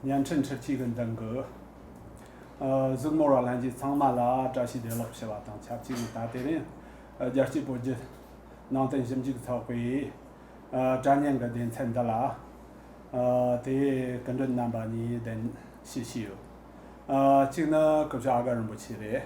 བརྙན་འཕྲིན་ཁྲོད་ཅིག་གི་མདུན་གྱི་གཟུགས་མོ་ར་ལྷན་གྱིས་ཚང་མ་ལ་བཀྲ་ཤིས་བདེ་ལེགས་ཞུ་བ་དང་ཆབས་ཅིག་ད་ལྟའི་རིང་རྒྱལ་སྤྱིའི་བོད་བརྒྱུད་ནང་བསྟན་ཞིབ་འཇུག་ཚོགས་པའི་དྲ་བརྙན་གྱི་བདེན་ཚད་འདི་ལ་དེའི་སྐུ་མགྲོན་རྣམ་པ་གཉིས་གདན་ཞུ་ཞུས་ཡོད། གཅིག་ནི་སྐུ་ཞབས་ཨ་དཀར་རིན་པོ་ཆེ་རེད།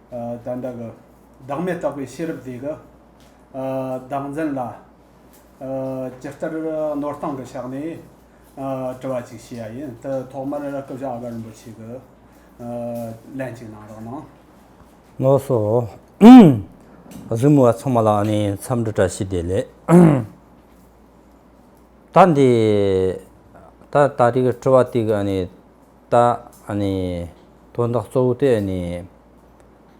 བདག་འདྲ་གི། བདག་མེད་རྟོགས་པའི་ཤེས་རབ་རྫས་ཀྱི། བདག་འཛིན་ལ། ཇི་ལྟར་ནོར་སྟངས་ཀྱི་ཕྱག་ནས། དྲི་བ་ཅིག་བྱེད་ཡ་ཡིན། དེ་ཐོག་མར་སྐུ་བཞི་ཨ་བྷ་རིན་པོ་ཆེ་གི། ལན་ཅིག་གནང་རོགས་གནང། ནོར་སོ། རིམ་བ་ཚང་མ་ལ་ནི་འཚམས་འདྲི་བཀྲ་ཤིས་བདེ་ལེགས། ད་འདི། ད་ལྟ་རིག་དྲི་བ་དེ་ག་ནི། བཏགས། དོན་དག་གཙོ་བོ་དེ་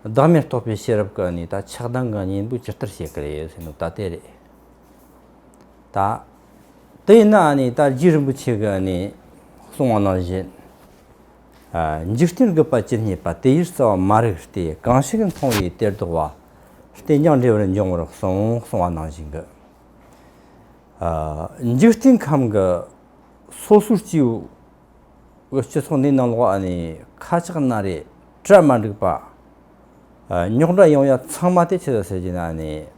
བདག་མེད་རྟོགས་པའི་ཤེས་རབ་ཀྱིས་ཆགས་སྡང་གི་གཉེན་པོ་ཇི་ལྟར་བྱེད་ཀྱི་རེད་ཟེར་ན་ད་དེ་རེད། དེས་ན་རྗེ་རིན་པོ་ཆེས་གསུང་བ་ནང་བཞིན། འཇིག་རྟེན་རྒུད་པ་ཇི་སྙེད་པ་དེ་ཡི་རྩ་བ་མ་རིག་སྟེ་གང་ཞིག་མཐོང་བའི་གཏེར་ཟློག་བ་སྟེ་མྱང་འདྲེས་པར་འབྱུང་བར་གསུང་གསུང་བ་ནང་བཞིན། འཇིག་རྟེན་ཁམས་ཀྱི་སོ་སོར་སྤྱི་བོའི་བའི་སྤྱི་ཚོགས་འདིའི་ནང་ལོགས་ནས་ཁ་ཆག་སྣ་རེ་སྤྲད་མ་འགྲིག་པ། རྙོག་དྲ་ཡོང་ཡ་ཚང་མ་དེ་ཆེད་དུ་ཟེར་གྱི་ན་ནས་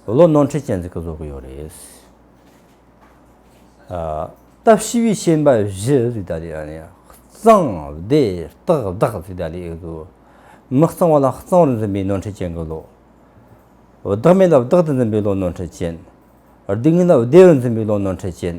བློ་ནོར་འཁྲིད་ཅན་ཚོས་ཀྱི་བཟོ་གི་ཡོད་རེད། སྟབས་ཤི་བའི་ཤེས་འབའ་བཞི་ཟིག་ད་ལི་གཙང་བདེ་སྟག་བདག་ཟིག་ད་ལི་ཨེ་འདུག་མི་གཙང་བ་ལ་གཙང་རུ་འཛིན་པའི་ནོར་འཁྲིད་ཅན་གྱི་བློ། བདག་མེད་ལ་བདག་ཏུ་འཛིན་པའི་བློ་ནོར་འཁྲིད་ཅན། སྡིག་ངན་ལ་བདེ་རུ་འཛིན་པའི་བློ་ནོར་འཁྲིད་ཅན།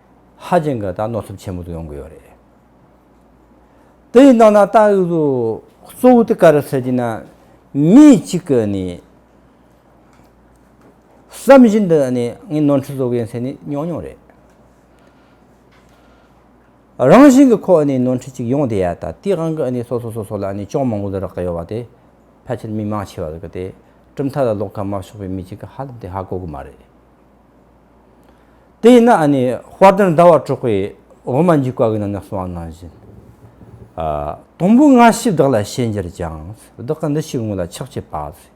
ཧ་ཅང་གི་ད་གནོད་ཚབས་ཆེན་པོ་དུ་ཡོང་གི་ཡོད་རེད། དེ་ཡི་ནང་ན་ད་ཡོད་དུ་གཙོ་བོ་དུ་ག་རེད་ཟེར་གྱི་ན། མི་གཅིག་གི་ནི་བསམ་བཞིན་དུ་ནི་ངས་ནོར་འཁྲུལ་བཟོ་གི་ཡིན་ཟེར་ནི་ཉོག་ཉོག་རེད། རང་བཞིན་གྱི་ཁོ་ནི་ནོར་འཁྲུལ་གཅིག་ཡོང་བསྡད་ཡ་ད་དེའི་དབང་གིས་ནི་སོ་སོ་སོ་སོ་ལ་ནི་ཅོང་མང་པོ་དུ་རག་གི་ཡོད་བ་དེ་ཕལ་ཆེར་མི་མང་ཆེ་བ་དུ་གི་དེ་གྲུབ་མཐའ་ལ་ལོག་ཁ་མ་ཕྱོགས་པའི་མི་གཅིག་གི་ཧ་ལམ་དེ་ཧ་གོ་གི་མ་རེད། དེ་ཡིན་ན་ཨ་ནི་དཔལ་ལྡན་ཟླ་བ་དྲུག་པའི་འོག་མ་འཇིག་པ་གྱི་ནང་ནས་གསུང་བ་ནང་བཞིན། དང་པོའི་སྔ་ཕྱི་བདག་ལ་ཤེས་འགྱུར་ཀྱང། བདག་གི་འདུ་ཤེས་དངོས་ལ་ཆགས་བྱེད་པ།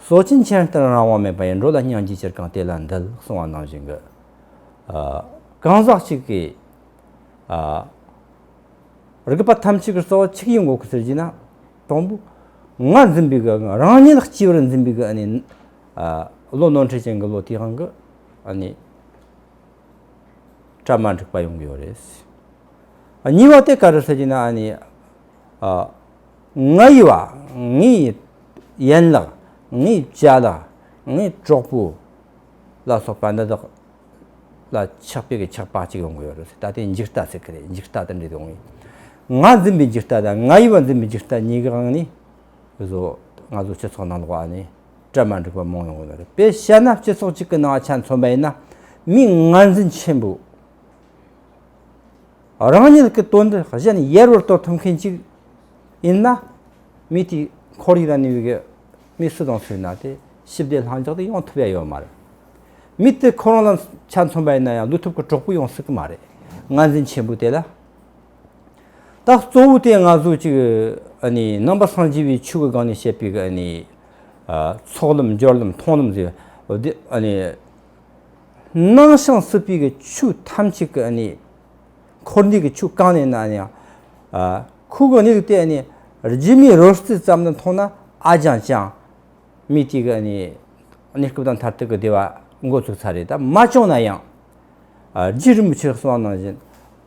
སོ་སྐྱེ་མཁྱེན་བསྟན་རང་དབང་མེད་པ་ཡིན་འགྲོ་ལ་སྙིང་རྗེ་ཅིར་གང་དེ་ལ་འདུལ་གསུང་བ་ནང་བཞིན། གང་ཟག་གཅིག་གིས་རིག་པ་ཐམས་ཅད་ཀྱི་རྩ་བ་ཆིག་ཡིག་འགོག་གི་ཟེར་གྱིས་ན། དང་པོའི་ངར་འཛིན་པའི་རང་ཉིད་ལ་སྐྱེས་པར་འཛིན་པའི་ཨ་ནི། བློ་ནོར་འཁྲུལ་ཅན་གྱི་བློ་དེའང་གི་ནི་སྐྲ་མ་འགྲིག་པ་ཡོང་གི་ཡོད་རེད། གཉིས་པ་དེ་ག་རེ་ཐད་ཀྱི་ན་ནི་ང་ཡི་བ་ངའི་ཡན་ལག་ངའི་བྱ་ལག་ངའི་གྲོགས་པོ་ལ་སོགས་པ་འདི་དག་ལ་ཆགས་པའི་གི་ཆགས་པ་གཅིག་ཡོང་གི་ཡོད་རེད། ད་དེ་འཇིག་ལྟ་ཟེར་གི་རེད་འཇིག་ལྟ་དེ་འདྲ་ཡོང་ངེས། ང་འཛིན་པའི་འཇིག་ལྟ་དང་ང་ཡི་བ་འཛིན་པའི་འཇིག་ལྟ་གཉིས་ཀའང་ནི་བཟོ་ང་ཚོ་སྤྱི་ཚོགས་ནང་ལོགས་ནི། སྐྲ་མ་འགྲིག་པ་མང་ཡོང་གི་ཡོད་རེད་དཔེ་བཤད་ན་སྤྱི་ཚོགས་གཅིག་གི་ནང་ཆ་མཚོན་པ་ཡིན་ན་མི་ངར་འཛིན་ཆེན་པོས་རང་ཉིད་ཀྱི་དོན་དུ་གཞན་ཡར་བར་གཏོར་ཐུབ་མཁན་གཅིག་ཡིན་ན་མི་དེའི་ཁོར་ཡུག་ལ་ནུས་པའི་མི་སུ་དང་སུ་ཡིན་ན་དེ་ཞི་བདེ་ལྷིང་འཇགས་དེ་ཡོང་ཐུབ་ཡ་ཡོད་མ་རེད། མི་དེ་ཁོ་རང་ལ་ཆ་མཚོན་པ་ཡིན་ན་ཡང་བསླུ་ཐུབ་ཀྱི་གྲོགས་པོ་ཡོང་སྲིད་ཀྱི་མ་རེད་ངར་འཛིན་ཆེན་པོས་དེ་ལ། རྟགས་གཙོ་བོ་དེ་ལྔ་གཟུགས་གཅིག་རྣམ་པ་སངས་རྒྱས་པའི་ཆོས་ཀྱི་སྒང་ནས་བཤད་པའི་ཚོགས་ལམ་སྦྱོར་ལམ་མཐོང་ལམ་ཟེར་བ་སྣང་ཞིང་སྲིད་པའི་ཆོས་ཐམས་ཅད་ཀྱི་འཁོར་འདས་ཀྱི་ཆོས་གང་ནས་ན་ཡང་ཁུག་གི་དམིགས་ཏེ་རྗེས་མའི་རོལ་རྩེད་ཙམ་ལ་མཐོང་ན་ཨ་ཅང་ཅང་མི་དེ་ག་ནས་སྐབས་དང་མཐར་ཐུག་གི་བདེ་བ་འགོ་ཚུགས་ཚར་རེད་ད་མ་བྱུང་ན་ཡང་རྗེ་རིན་པོ་ཆེས་གསུངས་བ་ནང་བཞིན།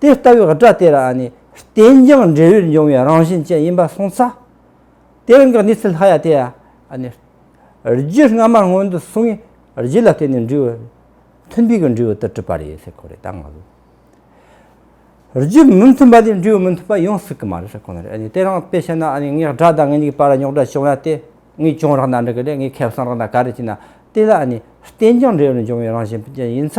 དེ་ལྟ་བུའི་སྒྲ་དེ་རང་ནི་རྟེན་ཅིང་འབྲེལ་བས་འབྱུང་བའི་རང་བཞིན་ཅན་ཡིན་པར་གསུངས་ས། དེ་རང་གི་གནས་ཚུལ་ལྷ་ཡ་དེ་ཡང། རྒྱུད་སྔ་མར་སྔོན་དུ་སོང་བའི་རྒྱུད་ལ་བརྟེན་ནས་འབྲས་བུ་མཐུན་པའི་འབྲས་བུ་དུ་གྲུབ་པ་རེད་ཟེར་ཁོ་རེ་ད་ང་ལོས། རྒྱུད་མི་མཐུན་པ་དེ་འབྲས་བུ་མི་མཐུན་པ་ཡོང་སྲིད་ཀྱི་མ་རེད་ཟེར་ཁོ་ན་རེད། དེ་རང་དཔེ་བཤད་ན་ངའི་སྒྲ་དང་ངའི་ནི་པར་ར་རྙོག་དྲ་བྱུང་ན་དེ་ངའི་གྱོང་རག་ན་འགྲིག་གི་རེད་ངའི་ཁེ་བཟང་རག་ན་ག་རེ་བྱས་ན་དེ་ལ་ནི་རྟེན་ཅིང་འབྲེལ་བས་འབྱུང་བའི་རང་བཞིན་ཅན་ཡིན་ས།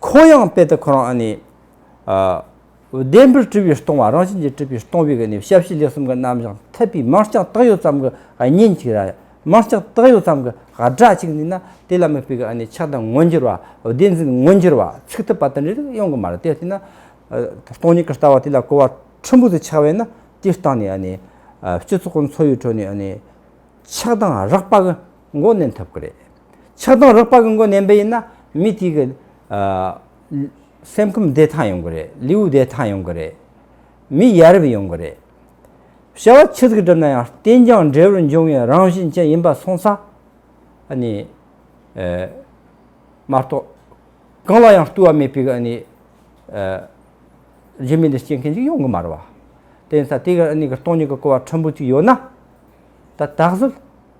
ཁོ་ཡང་དཔེ་དེ་ཁོ་རང་ནི། བདེན་པར་དཀྲི་བའི་སྟོང་བ་རང་བཞིན་གྱིས་དཀྲི་བའི་སྟོང་བའི་གནས་ཞབས་ཕྱི་ལས་གསུམ་ག་རྣམ་བཞག་འཐད་པའི་མིང་རྐྱང་བཏགས་ཡོད་ཙམ་གྱི་གཉེན་གཅིག་ར་མིང་རྐྱང་བཏགས་ཡོད་ཙམ་གྱི་སྒྲ་གཅིག་ནི་ན་དེ་ལ་མི་ཕིག་གི་ནི་ཆགས་སྡང་མངོན་གྱུར་བ་བདེན་འཛིན་མངོན་གྱུར་བ་ཚིག་ཐོབ་པ་དང་འབྲེལ་ཏེ་ཡོང་གི་མ་རེད་དེ་ལྟས་ན། སྟོང་ཉིད་ཀྱི་ལྟ་བ་དེ་ལ་གོ་བ་ཕྲན་བུ་དེ་ཆགས་པས་ན་དེའི་སྟེང་ནས་ནི། སྤྱི་ཚོགས་ཀྱི་འཚོ་བའི་ཁྲོད་ནས་ནི་ཆགས་སྡང་རགས་པ་གི། མགོ་ནན་ཐུབ་ཀྱི་རེད། ཆགས་སྡང་རགས་པ་གི་མགོ་ནན་པ་ཡིན་ན་མི་དེ་གི། སེམས་ཁམས་བདེ་ཐང་ཡོང་གི་རེད་ལེའུ་བདེ་ཐང་ཡོང་གི་རེད། མི་ཡ་རབས་ཡོང་གི་རེད། བྱ་བ་ཆུ་ཚིགས་གྲུབ་ན་ཡང་རྟེན་རྒྱང་འབྲས་བུར་འབྱུང་བའི་རང་བཞིན་ཅན་ཡིན་པ་སོང་ཚ། ཨ་ནི། མ་གཏོགས། གང་ལ་ཡང་ལྟོས་བ་མེད་པའི་ཨ་ནི། རྗེས་མི་འདི་སྐྱེ་མཁན་ཅིག་ཡོང་གི་མ་རེད་བ། དེ་ཡིན་ཚ་དེ་གར་ཨ་ནི་གི་སྟོང་ཉིད་ཀྱི་གོ་བ་ཕྲན་བུ་ཅིག་ཡོད་ན། ད་ད་གཟོད།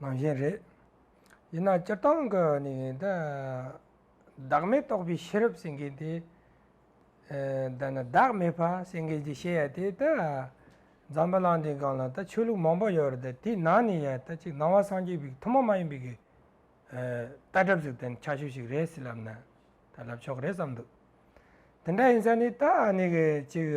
ནང་བཞིན་རེད། ཡིན་ནའང་སྤྱིར་བཏང་གི་ནི་བདག་མེད་རྟོགས་པའི་ཤེས་རབ་སེང་གེ་དེ། ད་ནི་བདག་མེད་ཕ་སེང་གེ་ཅེས་བཤད་ཡ་དེ་ད། འཛམ་བུ་གླང་འདིའི་སྒང་ལ་ད་ཆོས་ལུགས་མང་པོ་ཡོད་རེད་ད་དེའི་ནང་ནས་ཡ་ད་གཅིག་ནང་བ་སངས་རྒྱས་པའི་ཐུན་མོང་མ་ཡིན་པའི་གི། ལྟ་གྲུབ་ཟིག་ད་ནི་ཆགས་ཤོས་ཤིག་རེད་ཟེར་ལབ་ན་ད་ལབ་ཆོག་གི་རེད་བསམ་འདུག་དེ་འདྲ་ཡིན་ས་ནི་ད་ནི་གཅིག།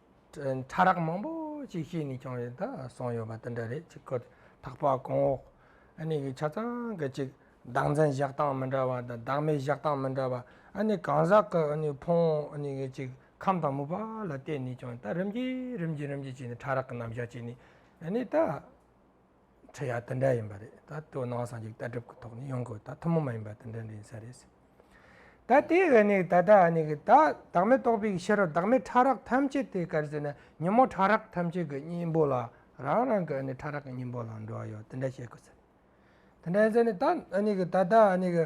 ཕྲ་རགས་མང་པོ་ཅིག་ཤེས་ནས་ཀྱང་ཡོད་ད་སོང་ཡོད་པ་དེ་འདྲ་རེད་ཅིག་གོ། ཐག་པ་གོང་འོག་གནས་ཀྱི་ཆ་ཚང་གི་ཅིག་བདག་འཛིན་བཞག་སྟངས་མི་འདྲ་བ་དང་བདག་མེད་བཞག་སྟངས་མི་འདྲ་བ། གང་ཟག་གི་ཕུང་གི་ཅིག་ཁམས་དང་མུ་པ་ལ་བལྟས་ནས་ཀྱང་ད་རིམ་གྱིས་རིམ་གྱིས་རིམ་གྱིས་བྱས་ནས་ཕྲ་རགས་ཀྱི་རྣམ་གཞག་བྱས་ནས་ད། ཁྲི་ཡ་དེ་འདྲ་ཡིན་པ་རེད་ད་དོ་སྣང་སངས་རྒྱས་ལྟ་གྲུབ་ཀྱི་ཐོག་ནས་ཡོང་དགོས་ད་ཐུན་མོང་མ་ཡིན་པ་དེ་འདྲ་འདྲ་ཡིན་ས་རེད་ཟེར་ད་དེ་ག་ནས་ད་ལྟ་ཨ་ནི་གི་ད་བདག་མེད་རྟོགས་པའི་ཕྱིར་རོ་བདག་མེད་ཕྲ་རགས་ཐམས་ཅད་དེ་གར་ཟེར་ན་ཉིན་མོ་ཕྲ་རགས་ཐམས་ཅད་ཀྱི་སྙིང་པོ་ལ་རང་རང་གི་ཨ་ནི་ཕྲ་རགས་ཀྱི་སྙིང་པོ་ལ་འགྲོ་བ་ཡོད་དེ་འདྲ་བཤད་དགོས་ཟེར་དེ་འདྲ་ཡིན་ཟེར་ནས་ད་ཨ་ནི་གི་ད་ལྟ་ཨ་ནི་གི།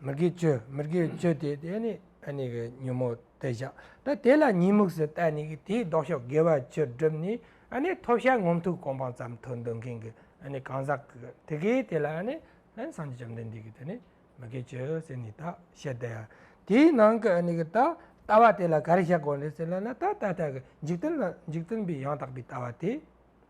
མི་དགེ་སྤྱོད་མི་དགེ་བའི་སྤྱོད་དེ་དེ་ནི་ཨ་ནི་གི་ཉོན་མོངས་ཏེ་བཞག་ད་དེ་ལ་གཉིད་མུག་སུ་བལྟ་ནི་གི་དེའི་ལྡོག་ཕྱོགས་དགེ་བ་བཅུར་བསྒྲུབས་ནི་ཨ་ནི་ཐོབ་བྱ་ངོམ་ཐུག་གོམ་སྤང་ཙམ་དུ་འདོད་མཁན་གི་ཨ་ནི་གང་ཟག་གི་དེ་གའི་དེ་ལ་ཨ་ནི་ལན་སངས་རྒྱས་བཅོམ་ལྡན་འདས་ཀྱིས་དེ་ནི་མི་དགེ་སྤྱོད་ཟེར་ནི་ད་བཤད་དེ། དེའི་ནང་གི་ཨ་ནི་གི་ད་ལྟ་བ་དེ་ལ་ག་རེ་བྱ་དགོས་རེད་ཟེར་ན་ན་ད་ད་ལྟ་གི་འཇིག་རྟེན་ལ་འཇིག་རྟེན་པའི་ཡང་དག་པའི་ལྟ་བ་དེ།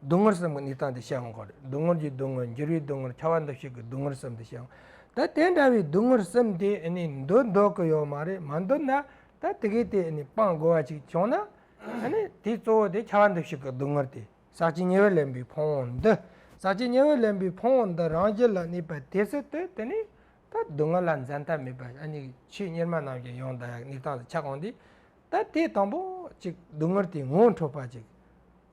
སྡུག་བསྔལ་བསམ་གྱི་ནི་སྟངས་དེ་བཤད་འོང་གི་རེད་སྡུག་བསྔལ་གྱི་སྡུག་བསྔལ་འགྱུར་བའི་སྡུག་བསྔལ་ཁྱད་པར་འདུ་ཤེས་ཀྱི་སྡུག་བསྔལ་བསམ་དེ་བཤད་འོང་ད་དེ་འདྲ་བའི་སྡུག་བསྔལ་བསམ་དེ་ནི་འདོད་འདོད་ཀྱི་ཡོད་མ་རེད་མ་འདོད་ན་ད་དེ་གས་དེ་ནི་སྤང་དགོས་བ་ཅིག་བྱུང་ན་དེའི་གཙོ་བོ་དེ་ཁྱད་པར་འདུ་ཤེས་ཀྱི་སྡུག་བསྔལ་དེ་ཟག་བཅས་ཉེ་བར་ལེན་པའི་ཕུང་བོ་འདི་ཟག་བཅས་ཉེ་བར་ལེན་པའི་ཕུང་བོ་འདི་རང་རྒྱུད་ལ་གནས་པ་དེ་སྲིད་དུ་དེ་ནི་ད་སྡུག་བསྔལ་ལ་འཛད་མཐའ་མེད་པ་ཆོས་གཉེར་མ་རྣམས་ཀྱིས་ཡང་དག་ནི་སྟངས་དེ་ཆགས་འོང་དུས་ད་དེ་དང་པོ་ཅིག་སྡུག་བསྔལ་དེའི་ངོ་བོ་འཕྲོག་པ་ཅིག།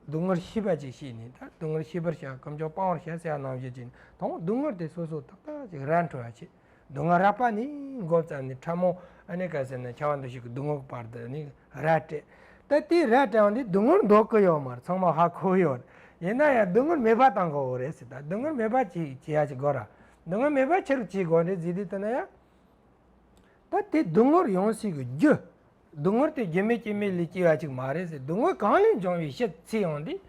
སྡུག་བསྔལ་ཤེས་པ་ཅིག་བྱས་ནས་ད་སྡུག་བསྔལ་ཤེས་པར་བྱ་ཁམས་ཀྱང་སྤང་བར་བྱ་སེ་ཡང་སྣང་བཞི་ཅན་དང་པོ་སྡུག་བསྔལ་དེ་སོ་སོ་ཏག་ཏག་ཅིག་ར་འཕྲོད་བར་བྱེད། སྡུག་བསྔལ་རགས་པ་ནི་འགོག་ཙམ་ནི་ཕྲ་མོ་ཨ་ནེ་ཀ་ཟེར་ན་ཆ་བ་འདུ་ཤེས་ཀྱི་སྡུག་བསྔལ་གྱི་བར་དུ་ནི་ར་སྤྲད། ད་དེའི་ར་སྤྲད་བ་འདི་སྡུག་བསྔལ་འདོགས་གི་ཡོད་མར་ཚང་མ་ཧ་གོ་གི་ཡོད། ཡིན་ན་ཡང་སྡུག་བསྔལ་མེད་པ་དང་གོ་རེད་སེ་ད་སྡུག་བསྔལ་མེད་པ་ཅིག་བྱེད་ཡ་ཅིག་དགོས་ར། སྡུག་བསྔལ་མེད་པ་ཕྱིར་བྱེད་དགོས་རེད་ཟིག་དེ་ལྟ་ན་ཡང། ད་དེ་སྡུག་བསྔལ་ཡོང་སྲིད་གི་རྒྱུ། སྡུག་བསྔལ་དེ་རྒྱུ་མེད་རྐྱེན་མེད་ལས་སྐྱེ་བ་ཅིག་མ་རེད་ཟེར་སྡུག་བསྔལ་གང་ལས་འབྱུང་བའི་ཤེས་ཚད་ཡོང་དུས།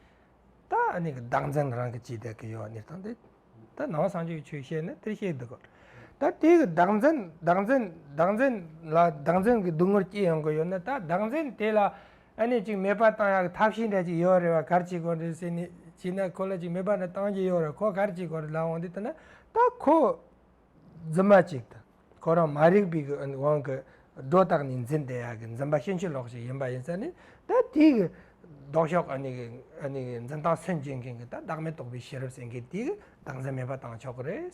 ད་ནི་བདག་འཛིན་རང་གིས་བྱས་བསྡད་ཀྱི་ཡོད་ནི་དང་དེ་ད་ནང་སངས་རྒྱས་ཀྱི་ཆོས་བཤད་ནི་དེ་བཤད་སྡུག་གི། ད་དེ་གི་བདག་འཛིན་བདག་འཛིན་བདག་འཛིན་ལ་བདག་འཛིན་གྱི་སྡུག་བསྔལ་སྐྱེ་ཡོང་གི་ཡོད་ན་ད་བདག་འཛིན་དེ་ལ་ཨ་ནི་ཅིག་མེད་པ་བཏང་ཡག་གི་ཐབས་ཤེས་འདྲ་ཅིག་ཡོད་རེད་བ་གར་བྱེད་དགོས་རེད་ཟེར་ནས་བྱས་ན་ཁོ་ལ་ཅིག་མེད་པ་འདྲ་བཏང་གི་ཡོད་རེད་ཁོ་གར་བྱེད་དགོས་རེད་ལ་འོང་དུས་ད་ནི་ད་ཁོ། རྫུན་མ་ཅིག་དང་ཁོ་རང་མ་རིག་པའི་དབང་གིས་སྒྲོ་བཏགས་ནས་འཛིན་བདེ་ཡག་གི་འཛིན་པ་ཤིན་ཅི་ལོག་ཞིག་ཡིན་པ་ཡིན་ས་ནི་ད་དེའི་གི་ལྡོག་ཕྱོགས་ཀྱི་ནི་གི་འཛིན་སྟངས་སུན་འབྱིན་མཁན་གྱི་ད་བདག་མེད་རྟོགས་པའི་ཤེས་རབ་ཟེར་མཁན་དེའི་གི་བདག་འཛིན་མེད་པ་བཏང་ཆོག་གི་རེད།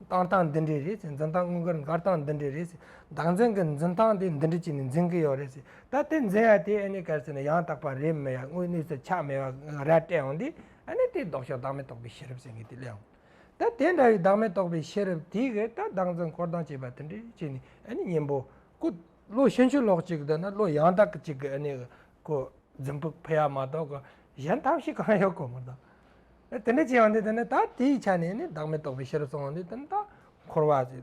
བཏང་སྟངས་འདི་འདྲས་རེད་ཟེར་འཛིན་སྟངས་དངོས་ཀྱི་འགར་སྟངས་འདི་འདྲས་རེད་ཟེར་བདག་འཛིན་གྱི་འཛིན་སྟངས་དེ་འདི་འདྲས་བྱས་ནས་འཛིན་གྱི་ཡོད་རེད་ཟེར་ད་དེ་འཛིན་ཡ་དེ་ཨ་ནི་གལ་སྲིད་ནི་ཡང་དག་པ་རེད་མི་ཡ་དངོས་གནས་སུ་ཆགས་མེད་པ་ར་སྤྲད་འོང་དུས་ཨ་ནི་དེའི་ལྡོག་ཕྱོགས་བདག་མེད་རྟོགས་པའི་ཤེས་རབ་ཟེར་མཁན་དེ་སླེབས་འོང། ད་དེ་འདྲ་བའི་བདག་མེད་རྟོགས་པའི་ཤེས་རབ་དེ་གས་ད་བདག་འཛིན་འཁོར་དང་བཅས་པ་དེ་འདྲའི་ཕྱིར་ནི་གཉེན་པོ། ཀུན། བློ་ཤེས་ཆོས་ལོག་ཅིག་དེ་ན་བློ་ཡང་དག་ཅིག་གི་ནི། ཀུན། འཛིན་ཕུག་ཕི་ཡ་མ་གཏོགས་གོ། གཞན་ཐབས་ཤིག་གང་ཡོད་གོ། མ་དང། དེ་འདྲའི་ཕྱིར་ཡང་དེ་དེ་ནི་ད་དེའི་ཆ་ནས་ནི་བདག་མེད་རྟོགས་པའི་ཤེས་རབ་སོང་ངོ་ནི་དེ་ནི་ད་འཁོར་བ།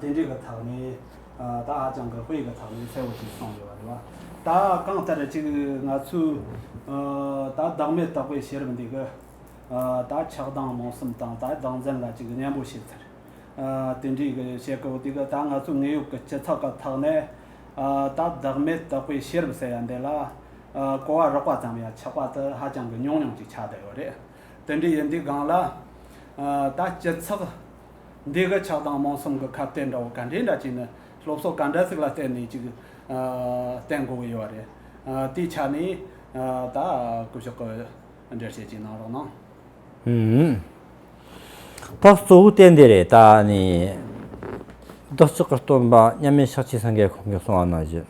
དེ་འདྲའི་ག་དག་ནས་ད་ཧ་ཅང་གི་དཔེ་ག་དག་ནས་གསལ་བོ་ཞིག་གསུངས་ཡོད་པ་རེད་བ། ད་གང་ལྟར་གཅིག་ང་ཚོས་ད་བདག་མེད་རྟག་པའི་ཤེས་རབ་འདི་གི་ད་ཆགས་སྡང་རྨོངས་གསུམ་དང་ད་བདག་འཛིན་ལ་གཅིག་སྙན་པོ་ཤེས་ཚར། དེ་འདྲའི་གི་བྱེད་དཀའ་བོ་འདི་གི་ད་ང་ཚོ་དངོས་ཡོད་ཀྱི་སྤྱི་ཚགས་ག་དག་ནས་ད་བདག་མེད་རྟག་པའི་ཤེས་རབ་ཟེར་ཡ་འདི་ལ་གོ་བ་རོགས་པ་ཙམ་ཡང་ཆགས་པ་དེ་ཧ་ཅང་གི་ཉུང་ཉུང་ཅིག་ཆགས་བསྡད་ཡོད་རེད། དེ་འདྲའི་ཡིན་དུས་སྒང་ལ་ད་སྤྱི་ཚགས་འདི་གི་ཆགས་སྡང་རྨོངས་གསུམ་གི་ཁ་གཏད་འདྲ་བོ་ག་འདྲའི་འདྲ་བྱས་ནས་སློབ་གསོ་ག་འདྲ་ཟིག་ལ་བརྟེན་ནས་ཅིག་བསྟན་དགོས་ཀྱི་ཡོད་པ་རེད། དེའི་ཆ་ནས་ད་སྐུ་བཞུགས་ཀྱི་འགྲེལ་བཤད་ཅིག་གནང་རོགས་གནང། ད་གཙོ་བོ་གཏན་དེ་རེད་ད་ནི། བདག་ཅག་གི་སྟོན་པ་མཉམ་མེད་ཤག་ཆེན་སངས་རྒྱས་ཁོང་གི་གསུང་བ་ན་བཞི།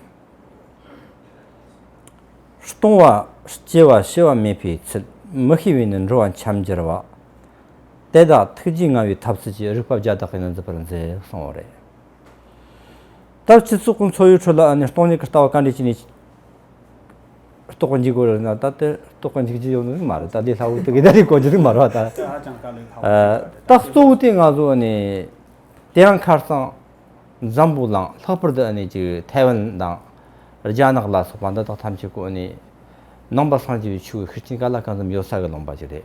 སྟོང་བ་སྐྱེ་བ་ཤི་བ་མེད་པའི་ཚུལ་མི་ཤེས་པས་ནི་འགྲོ་བ་འཁྱམས་འགྱུར་བ། དེ་དག་ཐུགས་རྗེ་མངའ་བའི་ཐབས་ཚུལ་གྱིས་རིག་པ་བརྒྱ་དག་གིས་ནི་འཛིན་པར་མཛད་གསུང་བ་རེད། ད་ཕྱི་ཚུལ་ཁོང་འཚོ་བའི་ཁྲོད་ལ་ནི་སྟོང་ཉིད་ཀྱི་ལྟ་བ་ག་འདྲས་ཅི་ནས་རྟོགས་པར་འཇུག་དགོས་རེད་ན་ད་དེ་རྟོགས་པར་འཇུག་རྒྱུ་ཡོད་ནི་མ་རེད་ད་དེ་ལྷག་བུ་དེ་གའི་ཟླ་རེའི་གོ་རྒྱུ་ནི་མ་རེད་ད། དེ་ཧ་ཅང་དཀའ་ལས་ལྷག་བུ་ཞིག་རེད། རྟགས་གཙོ་བོ་དེ་ང་ཚོ་ཨ་ནི་དེ་ཡང་ཁར་སང་འཛམ་བུ་གླང་ལྷག་པར་དུ་ཨ་ནི་ཅིག་ཐའེ་ཝན་དང་རྒྱ་ནག་ལ་སོགས་པ་འདི་དག་ཐམས་ཅད་ཀོ་ཨ་ནི་ནང་པ་སངས་རྒྱས་པའི་ཆོས་ཀྱི་ཤུགས་རྐྱེན་ག་ལ་གང་འཛོམས་ཡོད་ས་གི་ལོངས་པ་ཅིག་རེད།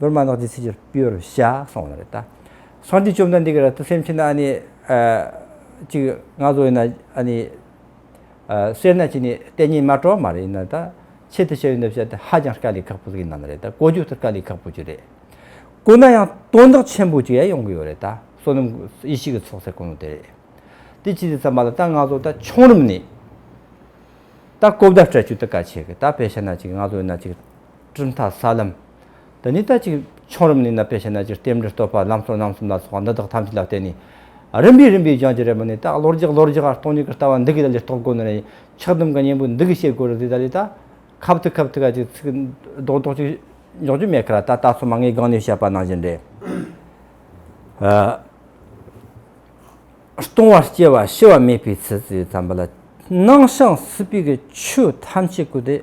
ནོར་མ་ནག་ཅིག་ཚིག་གཅིག་པུས་རུ་བཤགས་སོང་བ་རེད་ད། སང་འདི་བཅོམ་ན་འདི་ག་ར་ཏུ་སེམས་ཕྱིན་ན་ཨ་ནི། ཅིག་ང་ཚོ་ཡིན་ན་ཨ་ནི། སེར་སྣ་ཅིག་ནི་གཏན་ཉིན་མ་གྲོགས་མ་རེད་ཡིན་ན་ད། ཆེད་དུ་བཤད་ཡོད་འདི་བཤད་དེ་ཧ་ཅང་དཀའ་ལས་ཁག་པོ་ཞིག་ཡིན་ནམ་རེད་ད་བཀོལ་སྤྱོད་ཐུབ་དཀའ་ལས་ཁག་པོ་ཅིག་རེད། བཀོལ་ན་ཡང་དོན་དག་ཆེན་པོ་ཅིག་ཡ་ཡོང་གི་ཡོད་རེད་ད་བསོད་ནམས་ཡེ་ཤེས་ཀྱི་ཚོགས་ཟེར་དཀོན་ནོ་དེ་རེད། དེ་ཅི་ཟེར་ཚར་མ་ལ་ད་ང་ཚོ་ད་ཆུང་རིམ་ནས། ད་གོ་བརྡ་སྤྲད་ཆོད་དེ་ག་ཆེ་གི་ད་བེ་ཤ་ན་ཅིག་ང་ཚོ་ཡིན་ན་ཅིག། གྲུབ་མཐའ་ས་ལམ། འདི་ཉིད་ལྟ་ཅི། ཆོམ་རིམ་ནི་ནད་པའི་ཕྱི་ནད་ཀྱི་ལྟེམས་འབྲེལ་བསྟོད་པ་ལམ་སོགས་རྣམ་གསུམ་ལ་སོགས་པ་འདི་དག་ཐམས་ཅད་ལ་བརྟེན་ནས། རིམ་པས་རིམ་པས་སྦྱང་བྱེད་རེ་མ་ནི་རྟགས་ལོ་རྒྱགས་ལོ་རྒྱགས་སྟོང་ཉིད་ཀྱི་ལྟ་བ་འདི་གའི་ལ་ལས་རྟོགས་དགོས་ནི་རེ། ཆགས་སྡོམ་གྱི་གཉེན་པོ་འདི་གའི་བྱེད་སྒོ་རེ་ཟད་ལྟ་ལས་ལྟ། ཁབ་ཐིག་ཁབ་ཐིག་ག་ཅིག་ཚིག། ལྡོག་ལྡོག་ཅིག། འཇོག་འཇོག་མེད་ཁ་ར་ད་ལྟ་སོགས་མ་ངེས་སྒང་ནས་བཤད་པ་ནང་བཞིན་རེ། སྟོང་བ་སྐྱེ་བ་ཤི་བ་མེད་པའི་ཚུལ་གྱིས་བརྩམས་པ་ལ། སྣང་ཞིང་སྲིད་པའི་ཆོས་ཐམས་ཅད་ཀུན་ཏེ།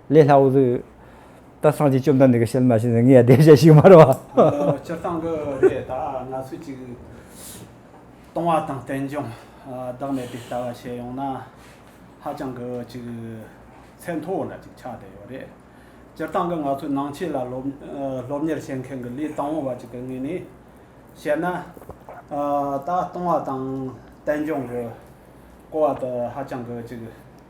ལས་སླ་བོ་ཟིག། ད་སངས་ཀྱིས་བཅོམ་ལྡན་འདས་ཀྱི་ཞལ་མ་ཕྱེ་ནས་ངས་ཡང་བསྡད་བྱ་ཞིག་མ་རུང་བ། སྤྱིར་བཏང་གི་རེད་ད། ང་ཚོས་ཅིག། བཏང་བ་དང་བསྟན་སྦྱོང་བདག་མེད་པའི་ལྟ་བ་བྱས་ཡོང་ན། ཧ་ཅང་གི་ཅིག། ཚད་མཐོ་བོ་ལ་ཅིག་ཆགས་བསྡད་ཡོད་རེད། སྤྱིར་བཏང་གི་ང་ཚོས་ནང་ཆོས་ལ་སློབ་གཉེར་བྱེད་མཁན་གྱི་ལས་དང་བོ་བ་ཅིག་གི་ངོས་ནས་བཤད་ན། ད་བཏང་བ་དང་བསྟན་སྦྱོང་གི་སྐོར་བ་དེ་ཧ་ཅང་གི་ཅིག།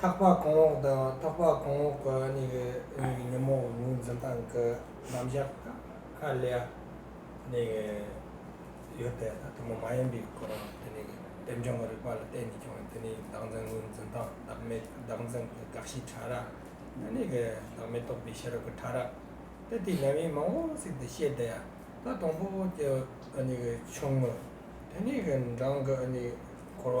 ཐག་པ་གོང་འོག་དང་ཐག་པ་གོང་འོག་གི་གཉིས་ཀྱི་གཉིས་ཀྱི་ཉིན་མོ་ངོས་འཛིན་སྟངས་ཀྱི་རྣམ་གཞག་དང་ཧ་ལས་ནས་ཡོད་པས་ད་ཐུན་མོང་མ་ཡིན་པའི་སྐོར་རང་དེ་ནས་དེབ་སྦྱོང་གི་རིག་པ་ལ་བརྟེན་ནས་ཀྱང་དེ་ནས་བདག་འཛིན་ངོས་འཛིན་སྟངས་བདག་མེད་བདག་འཛིན་གྱི་དགག་གཞི་ཕྲ་རགས་དེ་ནས་བདག་མེད་རྟོགས་པའི་ཤེས་རབ་ཀྱི་ཕྲ་རགས་དེ་དེ་ཉམས་ཡིག་མང་བོ་ཟིག་ཏུ་བཤད་དེ་ད་དང་པོ་དེ་གཉིས་ཆུང་ངུ་དེ་ནས་རང་གི་གོ་བ་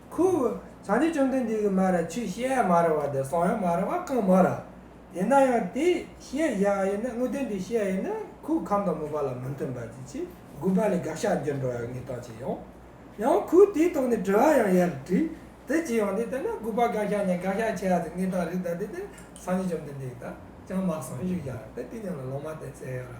ཁུ། བྱང་ཆུབ་བཅོམ་ལྡན་འདས་ཀྱིས་མ་ར་ཆུ་ཤེས་ཡ་མ་ར་བ་དེ་སོང་ཡང་མ་ར་བ་གང་མ་ར། ཡིན་ན་ཡང་དེ་ཤེས་ཡ་ཡིན་ན་དངོས་བསྟན་དེ་ཤེས་ཡ་ཡིན་ན་ཁུ་ཁམས་དང་མུན་པ་ལ་མི་མཐུན་པ་དེ་ཆེ་དགུ་པ་ལས་དགག་བྱ་འགྱུར་འགྲོ་ཡང་ངེས་དང་བྱས་ཡོང། ཡང་ཁུ་དེའི་ཐོག་ནས་དྲི་བ་ཡང་ཡར་དྲིས། དེ་ཅི་ཡོང་དེ་ལྟར་ན་དགུ་པ་དགག་བྱ་ནས་དགག་བྱ་ཆེ་ཡ་དེ་ངེས་དང་རིགས་དང་དེ་ལྟར་སངས་རྒྱས་བཅོམ་ལྡན་འདས་ཀྱིས་དག་ཀྱང་མ་གསུངས་ཞེས་བྱ་བ་དེ་དེ་ཉིད་ལ་ལོག་མ་བསྟན་ཟེར་ཡོད་ལ།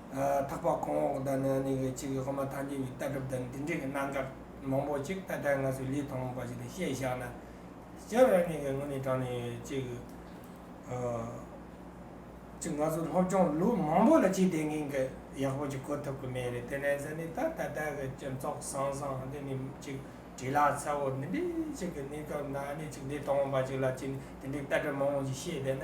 འཕགས་པ་གོང་འོག་དང་ནང་ནས་ཡོད་ཅིག་གིས་ཧོ་མ་ཐང་ཆེན་གྱི་ལྟ་གྲུབ་དང་འདི་འདྲའི་གནའ་མཁར་མང་པོ་ཅིག་ད་ལྟའི་ང་ཚོས་ལི་ཐང་མོ་པ་ཞིག་དང་བཤད་བཞག་ན། སྤྱིར་རང་ཉིད་ཀྱི་ངོས་ནས་དྲངས་ནས་ཡོད་ཅིག་གི། ཅིག་ང་ཚོ་སློབ་སྦྱོང་ལུགས་མང་པོ་ལ་ཅིག་དེ་འགན་གྱི་ཡག་པོ་ཅིག་གོ་ཐུབ་ཀྱི་མེད་རེད་དེ་ནས་ཟེར་ནས་ད་ད་ལྟའི་གི་སྤྱི་ཚོགས་བཟང་བཟང་འདི་ནས་ཅིག་དྲིས་ལ་གསལ་བོ་འདི་འདྲའི་ཅིག་གི་གནས་སྐབས་ནང་ནས་ཅིག་ལི་ཐང་མོ་པ་ཅིག་ལ་ཅིག་འདི་འདྲའི་ལྟ་གྲུབ་མང་པོ་ཞིག་བཤད་བསྡད་ན།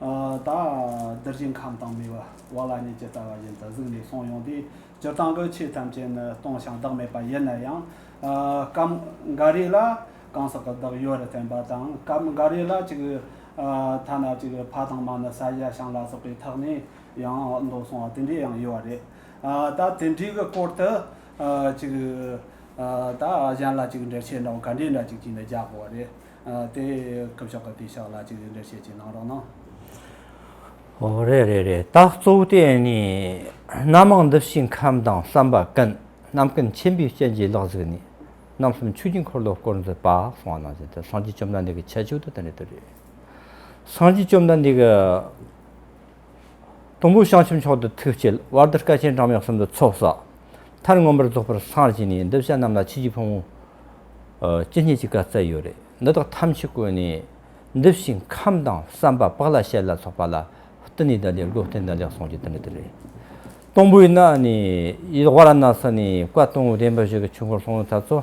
ད་བདེར་ཅིང་ཁམས་དང་མི་བ་ལ་ཉེས་བྱས་བསྩལ་བ་བཞིན་དུ་གཟིགས་ནས་སོང་ཡོང་དུས་སྤྱིར་བཏང་གི་ཆོས་ཐམས་ཅད་ནི་སྟོང་ཞིང་བདག་མེད་པ་ཡིན་ན་ཡང། སྐབས་འགའ་རེ་ལ་གང་ཟག་གི་བདག་ཡོད་རེ་བསྟན་པ་དང་སྐབས་འགའ་རེ་ལ་གཅིག་ཐ་ན་གཅིག་ཕ་དང་མ་ནི་ས་གཞི་གཤང་ལ་སོགས་པའི་ཐག་ནས་ཡང་ལྡོག་སོང་བ་དེ་འདྲས་ཡང་ཡོད་རེད། ད་དེ་འདྲའི་གི་སྐོར་དུ་གཅིག་ད་གཞན་ལ་གཅིག་འགྲེལ་བྱེད་འདྲ་བོ་ག་འདྲས་འདྲ་གཅིག་ཅིག་ནས་རྒྱག་དགོས་པ་རེད། དེ་སྐབས་ཤོག་ག་དེ་ཤག་ལ་གཅིག་རེ་འདྲ་བཤད་ཅིག་གནང་རོགས་གནང། ཨོ་རེད་རེད་རེད་ད་གཙོ་བོ་དེ་ནི་སྣ་མང་འདི་བཞིན་ཁམས་དང་བསམ་པ་ཀུན་རྣམ་སྐུ་མཁྱེན་པའི་སྤྱན་གྱིས་ལག་གཟིགས་ནས་རྣམ་གསུམ་ཆོས་ཀྱི་འཁོར་ལོ་བསྐོར་མཛད་པ་གསང་བ་ནང་བཞིན་དུ་སངས་རྒྱས་བཅོམ་ལྡན་འདས་ཀྱི་ཁྱད་ཆོས་དུ་དེ་འདྲ་དུ་རེད། སངས་རྒྱས་བཅོམ་ལྡན་འདས་ཀྱི། དུམ་བུ་བྱང་ཆུབ་མཆོག་ཏུ་ཐུགས་བསྐྱེད། བར་དོར་སྐལ་ཆེན་གྲངས་མེད་གསུམ་དུ་ཚོགས། བསགས་མཐར་མངོན་པར་རྫོགས་པར་སངས་རྒྱས་ནས། འདི་བྱ་རྣམས་ལ་ཕྱི་རྒྱུད་ཕུང་བོ། ཅི་སྙེད་ཅིག་བཀའ་སྩལ་ཡོད། རེ་འདི་དག་ཐམས་ཅད་བཀོད་ནས། འདི་བཞིན་ཁམས་དང་བསམ་པ་དཔག་ལ་བྱད་ལ་སོགས་པ་ལ། བསྟི་གནས་བདག་ལས་སྒོ་བསྟན་བདག་ལེགས་གསུངས་ཀྱི་དོན་ནི་འདི་རེད། སྟོང་པོའི་སྣ་ནས་ཡིད་དབང་ལ་སྣང་ས་ནས་བཀའ་སྟོང་བདེན་པར་བཞུགས་པའི་ཆོས་འཁོར་ལྷུང་བཟེད་ཚར་གཙོ།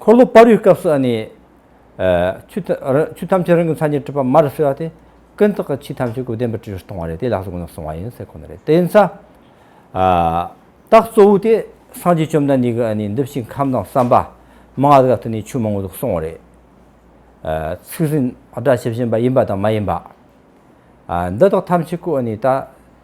འཁོར་ལོ་སྤར་བའི་སྐབས་སུ་ནི། ཆུ་ཐམས་ཅད་རང་གི་མཚན་ཉིད་སྤྲུལ་པ་མར་གསོལ་བ་སྟེ། ཀུན་བརྟགས་ཀྱི་ཆོས་ཐམས་ཅད་ཀུན་བདེན་པར་སྤྲུལ་བར་གཏོང་བ་རེད་དེ་ལག་ཏུ་ཀུན་ནས་བཟུང་བ་ཡིན་ཟེར་ཁོ་ན་རེད་དེ། རྟགས་གཙོ་བོ་དེ་སངས་རྒྱས་བཅོམ་ལྡན་འདས་ཀྱིས་ནི་འདི་ཕྱིའི་ཁམས་དང་བསམ་པ། མ་ང་ག་དུ་ནི་ཆོས་མང་པོ་འདུག་གསུང་བ་རེད། ཚིག་ཟིན་སྒྲ་ཇི་བཞིན་པ་ཡིན་པ་དང་མ་ཡིན་པ། འདི་དག་ཐམས་ཅད་ཀུན་ནི་ལྟ།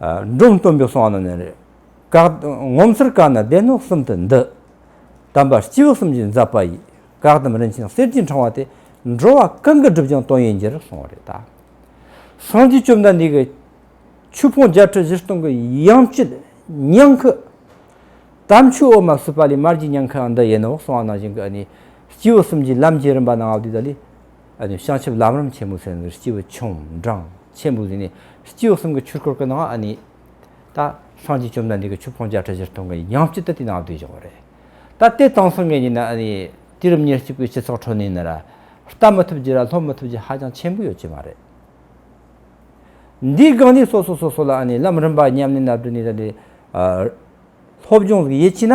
འབྲོམ་སྟོན་པའི་གསང་སྔགས་ནི་རེ། ངོ་མཚར་བཀའ་ནི་སྡེ་སྣོད་གསུམ་དུ་འདུ། དམ་པ་སྤྱི་བོ་གསུམ་གྱི་འཛབ་པ་ཡིས། བཀའ་གདམས་རིན་ཆེན་གསེར་གྱི་འཕྲེང་བ་སྟེ། འགྲོ་བ་གང་གི་སྒྲུབ་ཀྱང་དོན་ཡིན་རྒྱུར་གསུངས་བ་རེ་ད། སངས་རྒྱས་བཅོམ་ལྡན་འདས་ཀྱི། ཆོས་ཕུང་བརྒྱ་ཁྲི་བཞི་སྟོང་གི་ཡང་བསྐྱེད་ཉང་ཁུ། དམ་ཆོས་འོག་མ་བསྲུབས་པ་ལས་མར་གྱི་ཉང་ཁུའང་འདི་ཡིན་ནོ་གསང་བ་ནང་བཞིན་གྱི་ནི། སྤྱི་བོ་གསུམ་གྱི་ལམ་གྱི་རིམ་པ་སྣང་བ་དེ་དག་ལས། བྱང་ཆུབ་ལམ་རིམ་ཆེན་པོ་ཟེར་ནི་སྤྱི་བོ་ཆུང་འབྲིང་ཆེན་པོ་ཟེར་ནི་སྤྱི་བོ་གསུམ་གྱི་ཆུར་བསྐོར་གི་ནང་ཨ་ནི། ད་སངས་རྒྱས་བཅོམ་ལྡན་འདས་ཀྱི་ཆུ་བོང་བརྒྱ་ཁྲི་བཞིར་ཐོན་གྱི་ཡང་སྤྱི་དུ་དེ་ནང་བསྡུས་བཞག་པ་རེད། ད་དེ་གཙང་སེང་གེ་ཉིད་ན་ཨ་ནི། དུས་རབས་ཉེར་གཅིག་པའི་སྤྱི་ཚོགས་ཁྲོད་ནས་ནི། ལྟ་མི་ཐུབ་རྒྱུ་ར་ལྷོ་མི་ཐུབ་རྒྱུ་ཧ་ཅང་ཆེན་པོ་ཡོད་ཀྱི་མ་རེད། འདིའི་སྒང་ནས་སོ་སོ་སོ་སོ་ལ་ཨ་ནི་ལམ་རིམ་པ་ཉམས་ལེན་ན་བསྡུ་ནས་ད་ནི། སློབ་སྦྱོང་གཟུགས་དབྱེ་བྱས་ན།